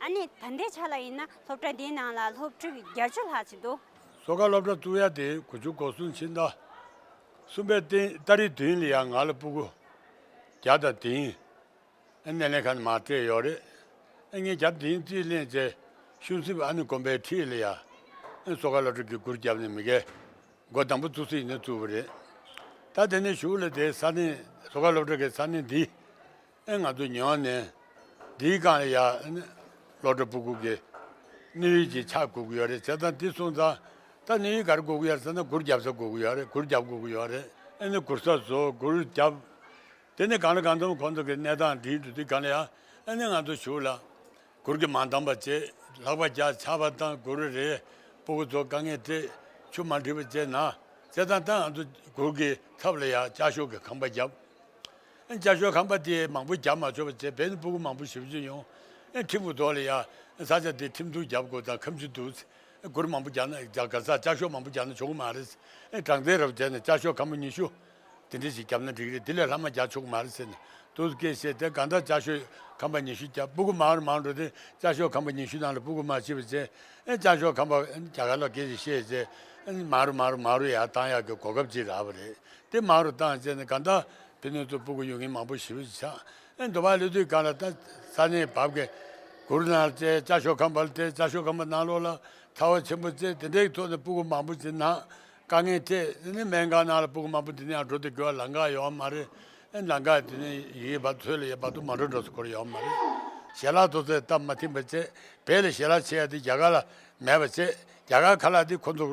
ཨ་ནི་ད་ལྟའི་ཆ་ལ་ཡིན་ན་སློབ་གྲྭ་འདིའི་ནང་ལ་སློབ་ཕྲུག་བརྒྱ་བཅུ་ལྷག་ཅིག་འདུག། གསོལ་ཁ་སློབ་གྲྭ་བཙུགས་ཡ་དེ་གོ་བཅུ་གོ་གསུམ་ཕྱིན་ད། གསུམ་པའི་སྟེང་ཏཱ་རི་དུན་ལི་ཡང་ང་ལ་སྤུ་གུ་བརྒྱ་དང་དེང་ཨ་ནི་ལེན་ཁ་ནི་མ་སྤྲད་ཡོད་རེད། ཨ་ངའི་རྒྱབ་དེང་རྩིས་ལེན་བཅས་ཤུལ་སིབ་ཨ་ནི་གོམ་པའི་ཁྲིད་ལ་ཡ། ཨ་ནི་གསོལ་ཁ་སློབ་གྲྭ་གི་གུར་རྒྱབ་ནས་མི་འགལ་སྒོ་དང་པོ་བཙུགས་སི་ཡིན་ན་བཙུགས་པ་རེད། ད་དེ་ནས་ཞུགས་ལ་དེ་ས་གནས་གསོལ་ཁ་སློབ་གྲྭ་གི་ས་གནས་འདི། ཨེ་ང་དུ་མྱོང་ནས། འདིའི་རྐང་ལ་ཡར། ལོ་འབྲས་བུ་གུག་གི། སྣོད་ཡུལ་གྱི་ཆ་གུག་ཡོད་རེད་ཟེར་ཙང་དེ་སོང་ཙང། ད་སྣོད་ཡུལ་གར་གུག་ཡར་ཟེར་ན་གུར་རྒྱབ་ས་གུག་ཡོད་རེད་གུར་རྒྱབ་གུག་ཡོད་རེད་ཨེ་ནི་གུར་ས་བཟོ་གུར་རྒྱབ། དེ་ནི་གང་ལ་གང་འདོམ་ཁོ་ཚོ་གི་གནས་སྟངས་འདིའི་འདུག་འདི་རྐང་ལ་ཡར་ཨེ་ནི་ང་ཚོ་བཞུགས་ལ། གུར་གྱི་མ་འདམ་པ་བཅས་ལག་པ་རྒྱག་ཆག་པ་དང་གུར་རེ་རེ་སྤོ་གུ་ཚོ་དཀའ་ངལ་སྤྲད། ཆུ་མ་འགྲིག་པ་བཅས་ན། བཅད་ཙང་ད་ང་ཚོ་གུར་གྱི་ཚབ་ལ་ཡར་ལྕགས་ཤོག་གི་ཁང་པ་རྒྱབ། སྐྱ་ཞོ་ཁམ་པ་དེ་མང་པོ་བརྒྱབ་མ་ཆོག་པ་བྱས་བས་ནི་སྤུ་གུ་མང་པོ་ཞིབ་ཅིག་ཡོང། ཁྲི་གུ་དོག་ལ་ཡ། ས་ཆ་དེ་ཁྲིམས་གཏུགས་བརྒྱབ་དགོས་དང་ཁམ་ཆུ་བསྡུ། གུར་མང་པོ་བརྒྱབ་ན་རྒྱ་གར་སར་སྐྱ་ཞོ་མང་པོ་བརྒྱབ་ན་ཆོག་གི་མ་རེད། དྲང་བདེན་རབ་བྱས་ན་སྐྱ་ཞོ་ཁམ་པ་ཉི་ཤུ། དེ་འདྲ་ཞིག་བརྒྱབ་ན་འགྲིག་རེད་དེ་ལས་ལྷག་མ་བརྒྱག་ཆོག་གི་མ་རེད་ཟེར་ནས་དུ་སྐད་བཤད་དེ་གང་ལྟར་སྐྱ་ཞོ་ཁམ་པ་ཉི་ཤུ་བརྒྱབ་སྤུ་གུ་མང་རུ་མང་འགྲོ་དེ་སྐྱ་ཞོ་ཁམ་པ་ཉི་ཤུ་ནང་ལ་སྤུ་གུ་མ་མཆིས་པ་བྱས། སྐྱ་ཞོ་ཁམ་པ་རྒྱ་གར་ལ་སྐད་ཅིག་བཤད་བྱས། མང་རུ་མང་རུ་མང་རུ་ཡར་བཏང་ཡག་གི་གོ་སྐབས་ཅིག་རག་པ་རེད་དེ་མང་རུ་བཏང་བྱས་ནས་གང་ལྟར། ཕི་སྣོད་དུ་སྤུ་གུ་ཡུག་ངན་མང་པོ་ཞིབ་ཅིང་ཆག། འདོ་བ་ལུས་དུད་ཀ་ལ་བཏགས། རྩ་ནས་བབས་ཀྱི། གུར་ནང་བཅས་ལྕགས་ཤོག་ཁམ་བར་བལྟས་ལྕགས་ཤོག་ཁམ་བ་ནང་ལོགས་ལ། ཚ་བ་ཆེན་པོ་བཙས་དེ་འདྲའི་ཐོག་ནས་སྤུ་གུ་མང་པོ་ཅིག་སྣང། དཀའ་ངལ་འཕྲད། དེ་ནས་སྨན་ཁང་ནང་ལ་སྤུ་གུ་མང་པོ་འདི་ནས་ཡང་འགྲོ་དུ་འགྱུར་བ་ལ་འགག་ཡོང་བ་མ་རེད། མདའ་འགག་དེ་ནས་ཡིད་བབས་ཚོད་ལ་ཡིད་བབས་དུ་མ་འགྲོ་འགྲོ་སུ་འཁོར་ཡོང་བ་མ་རེད། ཞལ་ལག་ཐོག་ཚད་སྟབས་མ་ཐིངས་པ་བཅས་བས་ལ་ཞལ་ལག་ཕྱེ་ཡ་དེ་རྒྱ་གར་ལ་མེད་པ་བཅས་རྒྱ་གར་ཁ་ལག་འདི་ཁོ་ཚོ་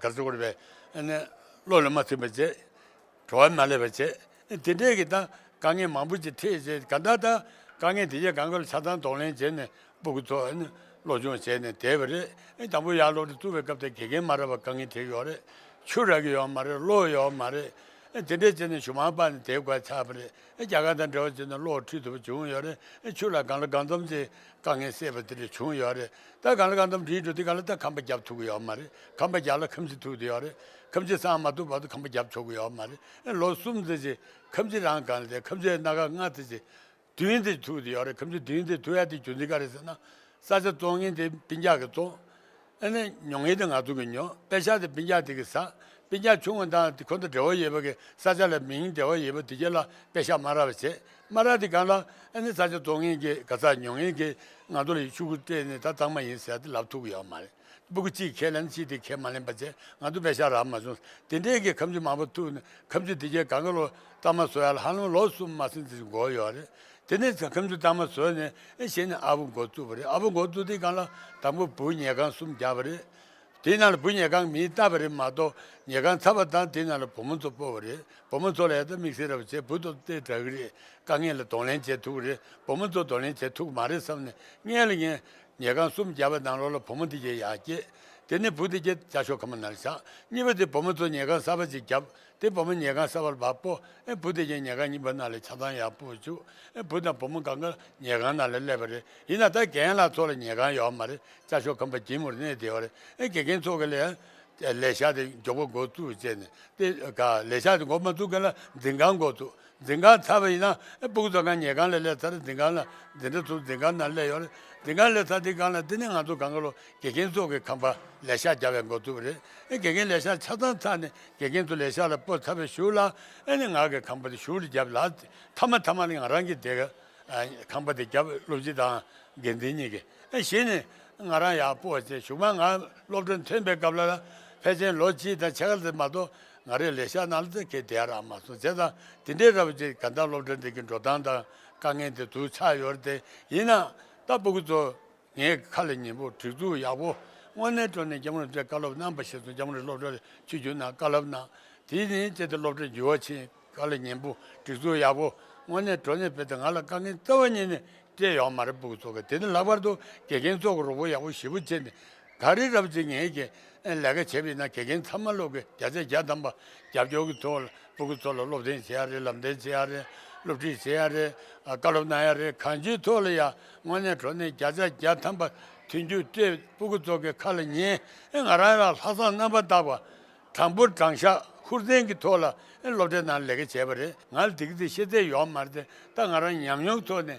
གར་ཚུར་བསྐོར་བས། བློ་ལ་མ་ཐིངས་པ་བཅས། བྲོ་བ་མ་སླེབས་པར་བྱས། དེ་འབྲེལ་གྱི་དང་དཀའ་ངལ་མང་པོ་ཅིག་འཕྲད་རྗེས་གང་ལྟར་དང་དཀའ་ངལ་དེ་རྗེས་གང་དགར་ཆ་ཚང་གདོང་ལེན་བྱས་ནས་སྤུ་གུ་ཚོ་སློབ་སྦྱོང་བྱས་ནས་དེད་པ་རེད། དང་པོ་ཡར་ལོག་ཏུ་བཙུར་བའི་སྐབས་དེར་དགེ་རྒན་མ་རབས་པ་དཀའ་ངལ་འཕྲད་ཀྱི་ཡོད་རེད། ཆུ་རག་གི་ཡོད་མ་རེད་གློག་ཡོད་མ་རེད། དེ་འདྲས་བྱས་ནས་ཞུ་མང་སྤར་ནས་དེད་དགོས་ཆགས་པ་རེད། རྒྱ་གར་དང་འབྲེལ་བ་བྱས་ན་གློག་འཕྲི་ཐུབ་པ་བྱུང་ཡོད་རེད། ཆུ་ལ་གངས་ལ་གངས་འདོམས་ཚེ་དཀའ་ངལ་སེལ་བ་དེ་འདྲ་བྱུང་ཡོད་རེད། ད་གངས་ལ་གངས་འདོམས་བྲིས་འགྲོ་དུས་གངས་ལ་ད་ཁམས་པ་བརྒྱབ་ཐུབ་ཀྱི་ཡོད་མ་རེད། ཁམས་པ་བརྒྱག་ལ་ཁམས་ཕྱི་ཐུག་ཏུ་ཡོད་རེད། ཁམས་ཕྱི་སངས་མ་ཐུབ་བར་དུ་ཁམས་པ་བརྒྱབ་ཆོག་གི་ཡོད་མ་རེད། ལོ་གསུམ་ཚེ་རྗེས་ཁམས་ཕྱི་རང་གངས་ལ་བསྡད་ཁམས་ཕྱི་ཨེ་སྣ་ཁ་ལྔ་ཚེ་རྗེས་བདུན་ཚེ་ཐུག་ཏུ་ཡོད་རེད་ཁམས་ཕྱི་བདུན་ཚེ་ཐུག་ཡ་དེ་རྒྱུ་མཚན་ག་རེད་ཟེར་ན། ས་ཆ་བཙོང་ངན་དེ་བྷི་འཇག་གི་བཙོང། ཨེ་ནས་ཉོ་ངེས་དེ་ང་ཐུག་གི་ཉོ་པད་ཤག་དེ་པིན་ཀྱག་དེ་གི་ཟ། པིན་ཀྱག་ཆུང་ངུ་དང་དེ་ཁོ་ད་འབྲེལ་བ་ཡོད་པ་གི་ས་ཆ་ལ་མིང་འབྲེལ་བ་ཡོད་པ་དེ་ཁྱེད་ལ་པད་ཤག་སྨ་ར་བ་བྱེད་སྨ་ར་དེ་གང་ལ་ཨེ་ནས་ས་ཆ་རྫོགས་ངེས་གི་ག་ཚག་ཉོ་ངེས་གི་ང་ཐུག་ལ་ཡི་ཤུ་གུ་སྤྲད་ནས་ད་ཙང་མ་ཡིན་ཟེར་དེ་ལབ་ཐུག་གི་ཡོད་མ་རེད་སྤུ་གུ་གཅིག་ཁས་ལེན་གཅིག་དེ་ཁས་མ་ལེན་པ་བྱེད་ང་ཐུག་པད་ཤག་རག་མ་བྱུང་དེ་འདྲས་གི་ཁམ་ཆུ་མང་པོ་ཐུག་ནས་ཁམ་ཆུ་དེ་ཁྱེད་གང་གི་ལོ་ཙང་མ་བཟོ་ཡག་ལ་ཧ་ལམ་ལོ་གསུམ་མ་སྲིད་འདི་འགོར་ཡོད་རེད་དེ་ནས་ཟ་ཁམ་དུ་བཏང་མ་ཟོས་ནས་གཞན་ནས་ཨ་བུ་འགོ་བཙུགས་པ་རེད་ཨ་བུ་འགོ་བཙུགས་དེའི་སྒང་ལ་དང་པོ་བུ་ཉལ་ཁང་གསུམ་རྒྱག་པ་རེད། དེའི་ནང་ལ་བུ་ཉལ་ཁང་མིའི་བཏབ་པ་རེད་མ་གཏོགས་ཉལ་ཁང་ཚར་བ་དང་དེའི་ནང་ལ་བུ་མོ་ཚོ་སྤོ་བ་རེད་བུ་མོ་ཚོ་ལ་ཡང་ད་མིག་སེར་ར་བ་བྱས་བུ་ཚོ་སྟེ་དྲག་གི་རེད་དཀའ་ངལ་ལ་གདོང་ལེན་བྱས་ཐུག་གི་རེད་བུ་མོ་ཚོ་གདོང་ལེན་བྱས་ཐུག་གི་མ་རེད་བསམ་ནས་སྔས་ལ་སྔས། ཉལ་ཁང་གསུམ་རྒྱག་པའི་ནང་ལོགས་ལ་བུ་མོ་འདི་གྱེས་ཡག་གྱེས། དེ་ནས་བུ་འདི་གྱེས་བྱ་ཤོག་ཁ་མ་ནར་བཞག་གཉིས་པ་དེ་བུ་མོ་ཚོ་ཉལ་ཁང་གསར་པ་ཅིག་བརྒྱབ་དེས་བུ་མོ་ཉལ་ཁང་གསར་བར་བབས་པོ། བུ་དེ་ཀྱང་ཉལ་ཁང་རྙིང་པ་ནང་ལས་ཆ་ཚང་ཡག་པོ་བཅུག། བུ་དང་བུ་མོ་གང་དགར་ཉལ་ཁང་ནང་ལ་སླེབས་པ་རེད། ཡིན་ན་ད་རྒན་ལགས་ཚོ་ལ་ཉལ་ཁང་ཡོད་བ་མ་རེད་ཅག་ཤོག་ཁམས་པ་སྒྱིད་མོར་གནས་བདེ་བ་རེད། དགེ་རྒན་ཚོ་ག་ལས་ཡང། ལས་ཤག་དེ་མགྱོགས་པོ་འགོ་བཙུགས་ཅེས་ནས་ཏེ། ག་ལས་ཤག་དེ་འགོ་མ་བཙུགས་མཁན་ལ་འཛིན་ཁང་འགོ་བཙུགས། འཛིན་ཁང་ཚར་བ་ཡིན་ན། པུ་གུ་ཚོ་གང་ཉལ་ཁང་ལ་སླེབས་ཚར་འཛིན་ཁང་ལ། འཛིན་གྲྭ་ཚོ་འཛིན་ཁང་ནང་སླེབས་ཡོད་རེད། འཛིན་ཁང་སླེབས་ཚར་འདི་གང་ལ་འདི་ནི་ང་ཚོ་གང་དགར་ལོ་དགེ་རྒན་ཚོ་གི་ཁམས་པ་ལས་ཤག་རྒྱག་པའི་འགོ་བཙུགས་པ་རེད། དགེ་རྒན་ལས་ཤག་ཆ་ཚང་ཚར་ནས་དགེ་རྒན་དུ་ལས་ཤག་ལ་སྤོ་ཐབས་ཞུ་ལ་ཨེ་ནས་ངག་གི་ཁང་པ་དེ་ཞུགས་ལ་བརྒྱབ་ལ་ཐ་མ་ཐ་མ་ལ་ང་རང་གིས་དེ་ཁང་པ་དེ་བརྒྱབ་སློབ་སྤྱི་དང་དགེ་འདུན་གཉིས་ཀྱིས་ཨེ་ཞེས་ནས་ང་རང་ཡག་སྤོ་བ་བྱས་ཞུགས་མ་ང་སློབ་གྲྭ་འཐོན་པའི་སྐབས་ལ་ཕལ་ཆེན་ལོ་གཅིག་དང་ཕྱེད་ཀ་ལ་མ་གཏོགས་ང་རེ་ལས་ཤག་ནང་ལ་ཐེ་གེ་དེའ་རང་མ་སོང་བྱས་ཙང་དེ་འདྲའི་ར་བ་ཅིག་ག་འདང་སློབ་གྲྭ་འདི་གི་འགྲོ་སྟངས་དང་དཀའ་ངལ་དེ་དུ་ཆགས་ཡོད་རེད་དེ་ཡིན་ན་ད་སྤོ་གི་ཚོ། ངའི་ཁ་ལ་ཉིན་པོར་དྲེགས་འདུག་ཡག་པོ་དངོས་གནས་སྤྲོ་ནས་རྒྱ་མོ་རེ་བཙལ་དཀའ་སློབ་གནང་བ་ཞིག་སོང་རྒྱ་མོ་རེ་སློབ་གྲྭར་ཆུ་རྒྱུན་ནང་དཀའ་སློབ་གནང་དེ་ནི་སྤྱད་དེ་སློབ་གྲྭར་འགྱུར་བ་ཕྱིན་ཁ་ལ་ཉིན་པོ་དྲེགས་འདུག་ཡག་པོ་དངོས་གནས་སྤྲོ་ནས་ཕེབས་ཏེ་ང་ལ་དཀའ་ངལ་རྩ་བ་ཉིད་ནས་སྤྲད་ཡོང་མ་རེད་སྤུ་གུ་ཚོ་ག་དེ་ནི་ལྷག་པར་དུ་དགེ་རྒན་ཚོ་གི་རོགས་པོ་ཡག་པོ་ཞེ་པོ་བྱས་ནས་ད་རེས་རབ་བརྩིས་ངས་ལས་ཀ་བྱས་པས་ན་དགེ་རྒན་ཚང་མ་སློབ་གི་བརྒྱ་ཆ་བརྒྱ་བདམས་པ་རྒྱབ་སྐྱོར་གི་ཚོ་ལ་སྤུ་གུ་ཚོ་ལ་སློབ་སྟོན་བྱེད་ཡག་རེད་ལམ་སྟོན་བྱེད་ཡག་རེད་སློབ་ཁྲིད་བྱེད་ཡག་རེད་བཀའ་སློབ་གནང་ཡག་རེད་གང་ཅིའི་ཐོག་ལ་ཡང་དངོས་གནས་གྲོ་ནས་བརྒྱ་ཆ་བརྒྱ་ཐམ་པ་མཐུན་འགྱུར་སྤྲད་སྤུ་གུ་ཚོ་གི་ཁ་ལ་ཉན་ཨེ་ང་རང་ཡང་ལྷག་བསམ་རྣམ་པར་དག་པ་དྲང་པོ་དྲང་བཞག་ཧུར་བརྩོན་གྱི་ཐོག་ལ་སློབ་གྲྭའི་ནང་ལས་ཀ་བྱས་པ་རེད་ང་ལ་དེ་གི་དེ་ཤེས་ཚད་ཡོག་མ་རེད་ད་ང་རང་ཉམས་མྱོང་ཐོག་ནས།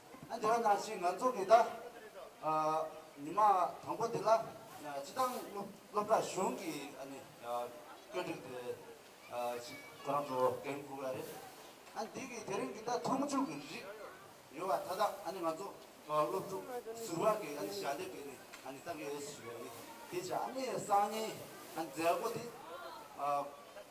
ཨ་དེ་བས་ན་ཅིག་ང་ཚོ་གིས་ད་ཉི་མ་དང་པོ་འདི་ལ་སྤྱི་བཏང་སློབ་གྲྭ་གཞུང་གི་ཨ་ནི་བཀོད་སྒྲིག་དེ་ཅིག་ཁོ་རང་ཚོ་འགན་འཁུར་བ་རེད། ཨ་འདི་གི་དེ་རིང་གི་ད་མཐོང་ཆུང་གི་རིགས་ཡོད་བ་ད་དང་ཨ་ནི་ང་ཚོ་སློབ་ཕྲུག་ཟུར་བ་གི་ཨ་ནི་ཞལ་འདེབས་གི་ཨ་ནི་ཏང་གི་ཨུ་ཚུགས་ཞུ་བ་རེད། དེ་ཕྱིར་ཨ་ནི་སང་ཉིན་མཛད་སྒོ་དེ་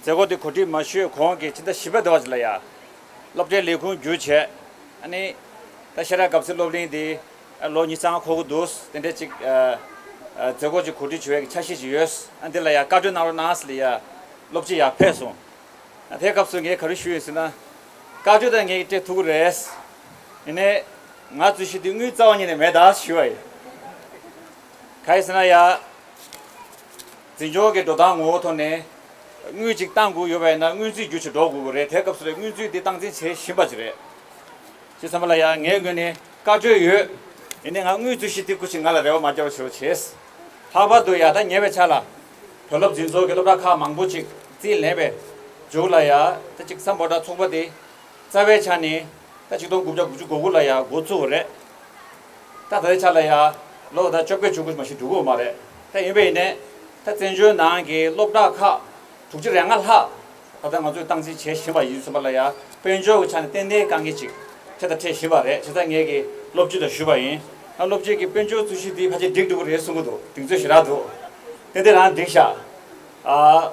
མཛད་སྒོ་དེ་གོ་སྒྲིག་མ་ཞུས་གོང་གི་ཕྱི་ཟླ་བཞི་པ་ཟླ་བ་བཞི་ལ་ཡང་སློབ་གྲྭའི་ལས་ཁུངས་བརྒྱུད་བྱས། ཨ་ནི། ད་ཤེས་རབ་གབ་ཚིག་སློབ་གླིང་འདི་ལོ་གཉིས་ཙམ་འཁོར་གི་འདུག་དེ་འདྲའི་ཅིག་མཛད་སྒོ་ཅིག་གོ་སྒྲིག་བྱེད་པའི་ཆ་ཤས་ཅིག་ཡོད། འདི་ལ་ཡང་བཀའ་དྲིན་གནང་རོགས་གནང་ཟེར་ནས་ཡང་སློབ་སྤྱི་ཡང་ཕེབས་སོང། དེའི་སྐབས་སུ་ངས་ག་རེ་ཞུས་ཡོད་ཟེར་ན། བཀའ་བརྒྱུད་དང་ངེད་ཀྱི་སྤྲད་ཐུབ་ཀྱི་རེད། ཡིན་ནའི། ང་བཙུན་ཤིག་དུས་དངུལ་རྩ་བ་ཉིད་ནས་མེད་ད་ཞུས་པ་ཡིན། ག་ཡིན་ཟེར་ན་ཡང། འཛིན་སྐྱོང་གི་འགྲོ་སྟངས་ངོ་བོ་ཐོག་ནས། དངུལ་ཅིག་བཏང་དགོས་ཡོད་པ་ཡིན་ན་དངུལ་རྩིས་རྒྱུ་ཆ་སྒྲོག་དགོས་ཀྱི་རེད་དེ་སྐབས་སུ་རེད་དངུལ་རྩིས་འདི་སྟངས་འཛིན་བྱེད་བཞིན་པ་ཅིག་རེད། ཅེས་བསམ་པ་ལ་ཡང་ངའི་ངོས་ནས་བཀའ་འཁྲོལ་ཡོད། ཡིན་ནའི་ང་དངུལ་རྩིས་ཤིག་སྟེར་ཁུལ་ཞིག་ང་ལ་རེ་བ་མ་རྒྱག་རོགས་ཞུ་བྱས། ལྷག་པར་དུ་ཡ་ད་ཉེ་བའི་ཆ་ལ། བོད་སློབ་འཛིན་ཚོགས་ཀྱི་སློབ་གྲྭ་ཁག་མང་པོ་ཅིག་རྩིས་ལེན་པའི་མཇུག་ལ་ཡ་ད་ཅིག་བསམ་པོ་འདྲ་ཚོགས་པ་དེ་རྩ་བའི་ཆ་ནི། ཟླ་ཆིག་སྟོང་དགུ་བརྒྱ་དགུ་ཅུ་གོ་དགུ་ལ་ཡང་མགོ་བཙུགས་བ་རེད། ད་ལྟའི་ཆ་ལ་ཡང་ལོ་ཟླ་བཅོ་བརྒྱད་ཆུ་དགུ་མ་ཤི་འགྲོ་དགོས་མ་རེད། དེ་ཡིན་པས་ནས་ད་བཙན་བྱོལ་ནང་གི་སློབ་གྲྭ་ཁག་དྲུག་ཅུ་རེ་ལྔ་ལྷག་ད་ལྟ་ང་ཚོས་སྟངས་འཛིན་བྱེད་བཞིན་པ་ཡིན་ཟེར་བ་ལ་ཡང་དཔལ་འབྱོར་གྱི་ཆ་ནས་ཏན་ཏན་དཀའ་ངལ་ཅིག་འཕྲད་དང་འཕྲད་བཞིན་པ་རེད་བྱས་ཙང་ངེད་ཀྱིས་སློབ་སྤྱི་ལ་ཞུས་པ་ཡིན། ད་སློབ་སྤྱི་གིས་དཔལ་འབྱོར་རྩོད་གཞི་འདི་ཕལ་ཆེར་འགྲིག་འགྲོ་གི་རེད་གསུང་གི་འདུག་གདེང་ཚོད་ཞེ་དྲག་འདུག། ཏན་ཏན་རང་འགྲིག་ཤག་ཨ།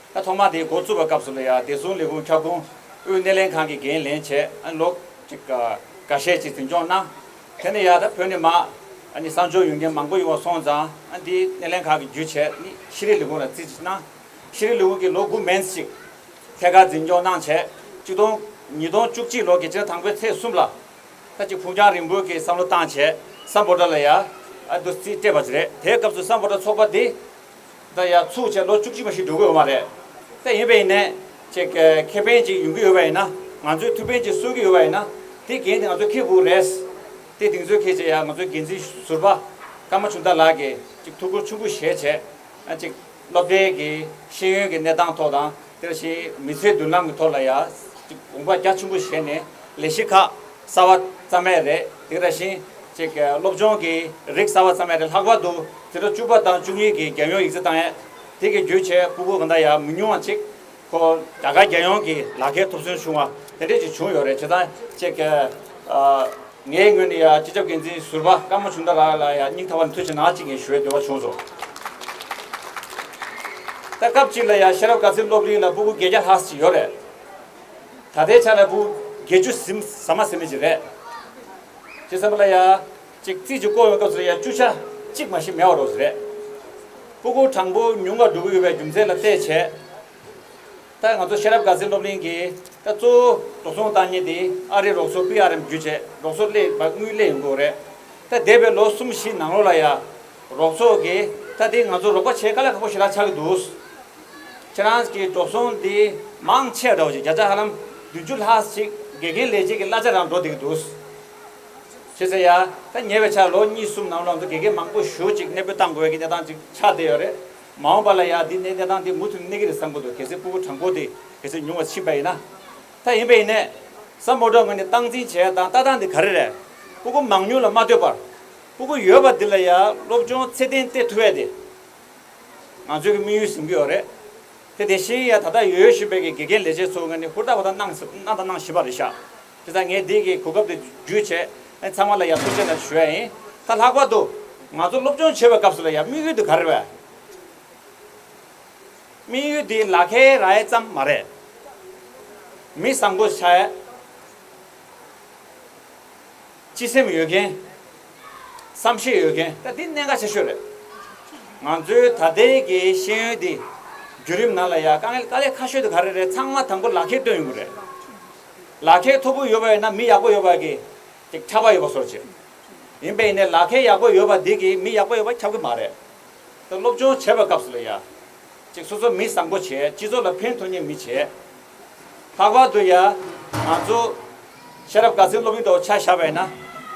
ཐ་ཐོག་མ་དེ་འགོ་བཙུགས་པ་སྐབས་སུ་ལ་ཡ་བདེ་སྲུང་ལས་ཁུངས་ཁྱབ་ཁོངས་དབུས་སྣེ་ལེན་ཁང་གི་འགན་ལེན་བྱས་ལོག་ཅིག་ག་ཤས་ཅིག་འཛིན་སྐྱོང་གནང། དེ་ནས་ཡ་ད་བོད་ནས་མ་གསང་སྦྱོར་ཡོད་མཁན་མང་པོ་ཡོང་བ་སོང་ཙང་འདིའི་སྣེ་ལེན་ཁང་གི་རྒྱུ་ཆས་ནི་ཤེས་རིག་ལས་ཁུངས་ལ་རྩིས་ཅིག་གནང། ཤེས་རིག་ལས་ཁུངས་ཀྱིས་ལོ་དགུ་མན་ཅིག་ཐད་ཀར་འཛིན་སྐྱོང་གནང་བྱས། གཅིག་སྟོང་ཉིས་སྟོང་བཅུ་གཅིག་ལོ་གི་སྤྱིར་དང་པོའི་ཚེས་གསུམ་ལ་ད་ཅིག་ཕུང་རྒྱང་རིང་པོ་གི་བསམ་བློ་བཏང་བྱས་ས་འབོ་ཏྲ་ལ་ཡ་ད་རྩིས་སྤྲད་པ་རེད་དེ་སྐབས་སུ་ས་འབོ་ཏྲ་ཚོགས་པ་འདི་ད་ཡར་ཚུགས་ཆེད་ལོ་བཅུ་གཅིག་པ་ཞིག་འགྲོ་གི་ཡོད་མ་རེད་པས་ཡིན་པས་ཡིན་ནས་ཆེ་གེ་ཁེ་ཕན་ཅིག་ཡོང་གི་ཡོད་པ་ཡིན་ན་ང་ཚོས་ཐུགས་ཕན་ཅིག་གསོས་ཀྱི་ཡོད་པ་ཡིན་ན་དེ་གན་དེ་ང་ཚོས་ཁེ་དགོས་རེད། དེ་དེང་ཚོད་ཁེ་ཆེ་ཡ་ང་ཚོའི་འགན་འཛིན་ཟུར་པ་ཀརྨ་ཆུ་ཟླ་ལགས་ཀྱིས་ཅིག་ཐུགས་ཁུར་ཆུང་ཁུར་བཞེས་བྱས་ན་ཅིག་སློབ་གྲྭའི་གི་ཤེས་ཡོན་གྱི་གནས་སྟངས་ཐོག་དང། དེ་བཞིན་མི་ཚེའི་མདུན་ལམ་གྱི་ཐོག་ལ་ཡང་དགོངས་པ་རྒྱ་ཆེན་པོ་བཞེས་ནས་ལས་གཞི་ཁག་གསར་བ་བརྩམས་མས་རེད། དེ་དང་བཞིན་སློབ་སྦྱོང་གི་རིགས་གསར་བ་བརྩམས་མས་རེད། ལྷག་པར་དུ་དུས་རབས་བཅུ་པ་དང་བཅུ་གཉིས་ཀྱི་རྒྱལ་ཡོངས་ཡིག་རྩིས་ཏང་ཨུད་ཀྱི་རྒྱུན་ཆད་ཕུགས་ཕུགས་གང་ལྟར་ཡང་མི་ཉུང་བ་ཅིག་གོ། དགྲ་དགའ་རྒྱལ་ཡོངས་ཀྱི་ལག་ཁྱེར་ཐོབ་ཚུན་བྱུང་བ་དེ་འདྲས་ཅིག་བྱུང་ཡོད་རེད། བྱེད་སྟངས། ངའི་ངོས་ནས་ཡང་སྤྱི་ཁྱབ་འགན་འཛིན་ཟུར་པ་བཀའ་མོ་བྱུང་རྟ་ལགས་ལ་ཡང་སྙིང་ཐག་པ་ནས་ཐུགས་ཆེ་གནང་གཅིག་ངེས་ཞུ་བའི་འདོད་པ་བྱུང་སོང། ད་སྐབས་ཅིག་ལ་ཡང་ཤེས་རབ་དགའ་ཚལ་སློབ་གླིང་ལ་སྤུ་གུ་བརྒྱད་བརྒྱ་ལྷག་ཅིག་ཡོད་རེད། ད་ལྟའི་ཆ་ལ་སྤུ་གུ་བརྒྱད་ཅུ་ཟིན་ཟ་མ་ཟིན་མེད་ཅིག་རེད། ཅེས་བསམ་པ་ལ་ཡང་ཅིག་རྩིས་ཀྱིས་བསྐོར་བའི་སྐབས་སུ་ལ་ཡང་བཅུ་ཆ་གཅིག་མ་ཞིག་མེད་བ་རོགས་ཟེར། སྤུ་གུ་གྲངས་པོ་ཉུང་བ་འགྲོ་གི་ཡོད་པའི་རྒྱུ་མཚན་ལ་བལྟས་བྱས། ད་ང་ཚོ་ཤེས་རབ་དགའ་ཚལ་སློབ་གླིང་གིས་ད་གཙོ་བོ་འགྲོ་སོང་བཏང་ཉེན་དེ་ཨ་རིའི་རོགས་ཚོགས PRM བརྒྱུད་བྱས་རོགས་ཚོགས་སླེ་བ་དངུལ་སླེ་ཡོང་དགོས་རེད་ད་འདས་པའི་ལོ་གསུམ་བཞི་ནང་ལོ་ལ་ཡ་རོགས་ཚོགས་གིས་ད་དེ་ང་ཚོ་རོགས་པ་བྱས་དཀའ་ལས་ཁག་པོ་ཞིག་ལ་ཆགས་ཀྱི་འདུག་ཁྱེད་རང་གིས་འགྲོ་སོང་འདི་མང་ཆེ་འདྲ་བ་ཞིག་བརྒྱ་ཆ་ཧ་ལམ་བདུན་ཅུ་ལྷག་ཅིག་དགེ་རྒན་ལས་བྱེད་ཀྱི་གླ་ཆ་རང་འགྲོ་བསྡད་ཀྱི་འདུག་བྱས་ཚེ་ཡ་ད་ཉེ་བའི་ཆར་ལོ་གཉིས་གསུམ་ནང་ལོ་ང་ཚོ་དགེ་རྒན་མང་པོ་ཞུགས་ཅིག་གནས་སྤོས་བཏང་དགོས་ཀྱི་གནས་སྟངས་ཅིག་ཆགས་བསྡད་ཡོད་རེད། མ་འོངས་པ་ལ་ཡང་འདི་གནས་གནས་སྟངས་འདི་མུ་མཐུད་གནས་ཀྱི་རེད་བསམ་གྱི་འདུག་གལ་སྲིད་སྤུ་གུ་དྲང་པོ་དེ་གལ་སྲིད་ཉུང་བ་ཕྱིན་པ་ཡིན་ན། ད་ཡིན་པ་ཡིན་ནས། ས་མོ་བྲོ་ང་ནི་སྟངས་འཛིན་བྱས་ཡ་སྟངས་ལྟ་སྟངས་འདི་ག་རེ་རེད། སྤུ་གུ་མང་ཉུང་ལ་མ་ལྟོས་པར། སྤུ་གུ་ཡོད་པ་འདི་ལ་ཡང་སློབ་སྦྱོང་ཚད་ལྡན་སྟེར་ཐུབ་ཡ་དེ། ང་ཚོའི་གི་དམིགས་ཡུལ་ཟིན་གྱི་ཡོད་རེད། དེ་དེ་བཞིན་ཡང་ད་ལྟ་ཡོད་བཞིན་པའི་གི་དགེ་རྒན་ལས་བྱེད་ཚོ་ང་ནི་ཧུར་ཐག་ཧུར་ཐག་གནང་གནང་དང་གནང་བཞིན་པ་རེད་ཤག། དེ་ལྟར་ངས་དེང་གི་གོ་སྐབས་འདི་བརྒྱུད་ཆེད་ཚང་མ་ལ་ཡང་ཐུགས་རྗེ་ལན་དུ་ཞུ་བ་ཡིན། ད་ལྷག་པར་དུ། ང་ཚོ་སློབ་སྦྱོང་བྱེད་པའི་སྐབས་སུ་ལ་ཡང་དམིགས་ཡུལ་དེ་ག་རེ་བས། དམིགས་ཡུལ་དེ་ལ་ཁའི་རྭའི་ཙམ་མ་རེད། མི་བཟང་པོ་ཤ་ཡ། སྤྱི་སེམས་ཡོད་མཁན། བསམ་ཤེས་ཡོད་མཁན། ད་དེ་གནད་འགག་ཆེ་ཤོས་རེད། ང་ཚོའི་ད་ལྟའི་གི་ཤེས་ཡོན་དེ། བརྒྱུད་རིམ་ནང་ལ་ཡང་དཀའ་ངལ་དཀའ་ལས་ཁ་ཤོས་དེ་ག་རེ་རེད་ཚང་མ་དང་པོ་ལ་ཁའི་བཏོན་ཡོང་གི་རེད། ལག་ཁྱེར་མཐོ་པོ་ཡོད་པ་ཡིན་ན་མི་ཡག་པོ་ཡོད་པ་གི་ཅིག་ཁྱབ་པ་ཡོད་པ་སོར་ཆུད་ཡིན་པས་ནས་ལག་ཁྱེར་ཡག་པོ་ཡོད་པ་དེ་གི་མི་ཡག་པོ་ཡོད་པ་ཁྱབ་གི་མ་རེད་ད་སློབ་སྦྱོང་བྱེད་པ་སྐབས་སུ་ལ་ཡ་ཅིག་སོ་སོ་མི་བཟང་པོ་བྱེད་སྤྱི་ཚོགས་ལ་ཕན་ཐོག་ཉིད་མི་བྱེད་ལྷག་པར་དུ་ཡ་ང་ཚོ་ཤེས་རབ་དགའ་ཚལ་སློབ་ཡུན་ཐོག་ཆ་བཞག་པས་ན་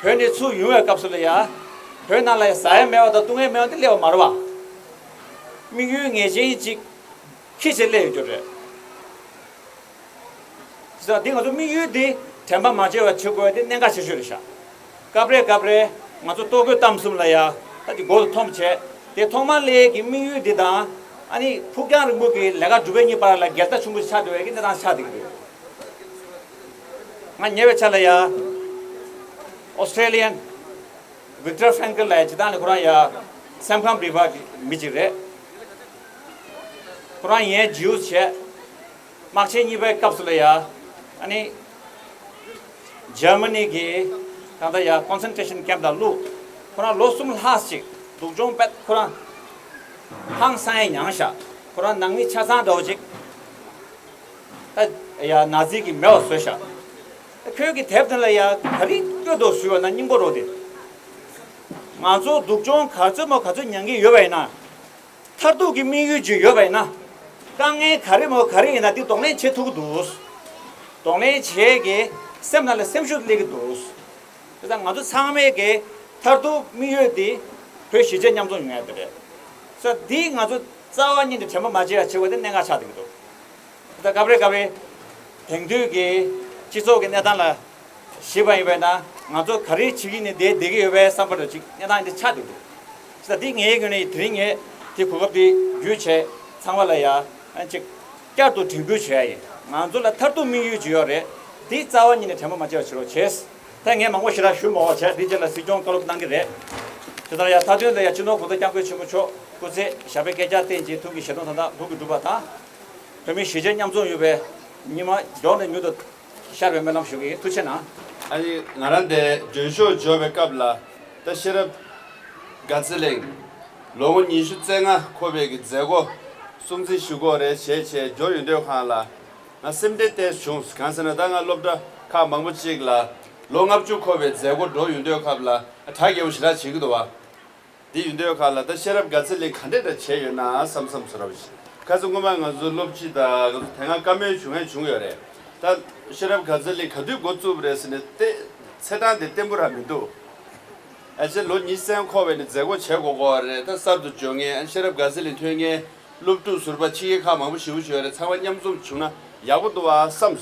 བོད་ནས་ཚུར་ཡུང་བའི་སྐབས་སུ་ལ་ཡ་བོད་ནང་ལ་ཡ་ཟ་ཡ་མེད་པ་དང་བཏུང་ཡ་མེད་པ་འདི་སླེབས་པ་མ་རེད་བ་དམིགས་ཡུལ་ངེས་ཅན་ཅིག་ཁིད་ཆེ་སླེབས་ཡོད་རྒྱུ་རེད། ཟེར་བ་འདི་ང་ཚོ་དམིགས་ཡུལ་འདི་དྲན་པ་མ་བརྗེད་བར་བྱེད་དགོས་འདི་གནད་འགག་ཆེ་ཤོས་རེད་ཤག་སྐབས་རེ་སྐབས་རེ་ང་ཚོ་ལྟོ་གོས་གཏམ་གསུམ་ལ་ཡག་ཐབས་ཀྱི་སྒོ་ལ་ཐོམ་བྱས་དེ་ཐོག་མར་ལས་ཀྱི་དམིགས་ཡུལ་འདི་དང་ཨ་ནི་ཕུགས་རྒྱང་རིང་པོ་གི་ལས་ཀ་སྒྲུབ་པའི་གཉིས་བར་ལ་འགལ་ཟླ་ཆུང་ཆུང་ཆགས་འགྲོ་བའི་གནས་སྟངས་ཆགས་འདུག་གི་འདུག་ང་ཉེ་བའི་ཆ་ལ་ཡ། Australian། Viktor Frankl ལ་ཡ་བྱེད་སྟངས་ལས་ཁོ་རང་ཡ། སེམས་ཁམས་རིག་པ་གི་མི་ཅིག་རེད། ཁོ་རང་ཡན Jews བྱས། དམག་ཆེན་གཉིས་པའི་སྐབས་སུ་ལ་ཡ་ནི། Germany། གྱིས་གང་ལྟར་ཡ Concentration Camp དང་ལུག་ཁོ་རང་ལོ་གསུམ་ལྷག་ཅིག་སྡུག་སྦྱོང་པད་ཁོ་རང་ཧང་སངས་མྱང་བཞག་ཁོ་རང་ནང་མི་ཆ་ཚང་འདྲ་བོ་ཅིག་ད་ཡ Nazi གྱིས་མེ་བ་བཟོས་བཞག་ད་ཁྱོད་ཀྱིས་དེབ་དེ་ལ་ཡ་ག་རིགས་སྐྱོ་དོ་ཟུས་བ་ན་སྙིང་པོ་རོ་དེ་ང་ཚོ་སྡུག་སྦྱོང་ག་ཚོད་མོ་ག་ཚོད་མྱང་གིན་ཡོད་པ་ཡིན་ན། མཐར་ཐུག་གི་དམིགས་ཡུལ་བརྗོད་ཡོད་པ་ཡིན་ན། དཀའ་ངལ་ག་རེ་མོ་ག་རེ་ཡིན་ན་དེ་གདོང་ལེན་བྱེད་ཐུབ་ཀྱི་འདུག། གདོང་ལེན་བྱས་ཀྱིས་སེམས་ནང་ལ་སེམས་ཤུགས་སླེབས་ཀྱི་འདུག། དེ་ཚ་ང་ཚོ་ཚང་མའི་གི་མཐར་ཐུག་དམིགས་ཡུལ་དེ་བོད་གཞིས་བྱེས་མཉམ་འཛོམས་ཡོང་ཡ་དེ་རེད། ས་འདིས་ང་ཚོ་རྩ་བ་ཉིད་ནས་དྲན་པ་མ་བྱས་ཡ་བྱས་བ་དེ་གནད་འགག་ཆགས་སྡད་ཀྱི་འདུག། ད་སྐབས་རེ་སྐབས་རེ་དེང་དུས་ཀྱི་སྤྱི་ཚོགས་ཀྱི་གནས་སྟངས་ལ་གཞིགས་པ་ཡིན་པས་ན་ང་ཚོ་ག་རེ་བྱེད་ཀྱི་ནི་བསྡད་བསྡད་ཀྱི་ཡོད་པའི་བསམ་པ་རེ་གཅིག་གནས་སྟངས་འདི་ཆགས་འདུག་ཅི་ད་དེ་ངའི་ངོས་ནས་དེ་རིང་ངས་དེ་གོ་སྐབས་འདི་བརྒྱུད་བྱས་ཚང་མ་ལ་ཡང་ཅིག་བསྐྱར་དུ་དྲན་སྐུལ་བྱེད་ཡ་ཡིན་ང་ཚོ་ལ་མཐར་ཐུག་དམིགས་ཡུལ་ཅིག་ཡོད་རེད་དེའི་རྩ་བ་ཉིད་ནས་དྲན་པ་མ་བྱེད་པ་བྱེད་རོགས་བྱས། ད་ངས་མང་པོ་ཞེ་དྲག་ཞུ་མ་འོང་བྱས་འདི་རྗེས་ལ་སྲིད་སྐྱོང་བཀའ་སློབ་གནང་གི་རེད། དེ་ལྟར་ཡང་མཐའ་དོན་ལ་ཡང་སྤྱི་ནོར་གོང་ས་སྐྱབས་མགོན་ཆེན་པོ་མཆོག་སྐུ་ཚེ་ཞབས་པད་བསྐལ་བརྒྱར་བརྟན་ཅིང་ཐུགས་ཀྱི་བཞེད་དོན་དམ་དག་ལྷུག་གིས་འགྲུབ་པ་དང། བོད་མིའི་གཞིས་བྱེས་མཉམ་འཛོམས་ཡོད་པའི་ཉི་མ་མགྱོགས་ནས་མྱུར་དུ་ཤར་བའི་སྨོན་ལམ་ཞུ་གི་ཡིན་མཐུ་ཆེ་གནང། ཨ་ནི་ང་རང་འདས་གྲོན་ཤོག་འབྱོར་བའི་སྐབས་ལ་ད་ཤེས་རབ་དགའ་ཚེ་གླེང། ལོ་ངོ་ཉི་ཤུ་རྩེ་ལྔ་ཁོ་བོས་ཀྱི་མཛད་སྒོ་སྲུང་བརྩི་ཞུ་སྒོ་རེ་བྱས་བྱས་འབྱོར་ཡོད་འདོད་ཁང་ལ་ང་སེམས་ཁྲལ་བལྟས་བྱུང་གང་ཟེར་ན་ད་ང་སློབ་གྲྭ་ཁག་མང་པོ་གཅིག་ལ་ལོ་ལྔ་བཅུ་ཁོ་བོས་མཛད་སྒོ་འགྲོ་ཡོད་འདོད་སྐབས་ལ་ཨ་གྲགས་རྒྱལ་པོ་ཞི་དྲག་བྱེད་ཀྱི་འདུག་བ། འདི་ཡུལ་འདོད་ཁ་ལ་ད་ཤེས་རབ་དགའ་ཚལ་ལས་ག་འདྲས་འདྲ་བྱས་ཡོད་ན་བསམ་བསམ་ཚོར་ར་བ་ཞིག་ཁ་ཚ་སྔོན་མ་ང་ཚོའི་སློབ་སྤྱི་དང་དེ་སྔ་བཀའ་མོལ་བྱུང་ཡང་བྱུང་ཡོད་རེད་ད། ཤེས་རབ་དགའ་ཚལ་ལས་ག་དུས་འགོ་བཙུགས་པ་རེད་ཟེར་ནས་ཏེ་ཚེ་གྲངས་དེ་བརྟན་པོ་རག་མི་འདུག་ཨ་ཅེ་ལོ་གཉིས་བཙན་འཁོར་བས་ནི་མཛད་སྒོ་བྱེད་གོ་གོ་བ་རེད་ད་གསར་དུ་འབྱོར་ངའི་ཤེས་རབ་དགའ་ཚལ་ལས་མཐོན་ངའི་སློབ་ཕྲུག་ཟུར་པ་ཕྱི་རྒྱལ་ཁག་མང་པོ་ཞི་བོ་བྱོས་རེད་ཚང་མ་མཉམ་འཛོམས་བྱུང་ན་ཡག་པོ་འདུག་བསམ།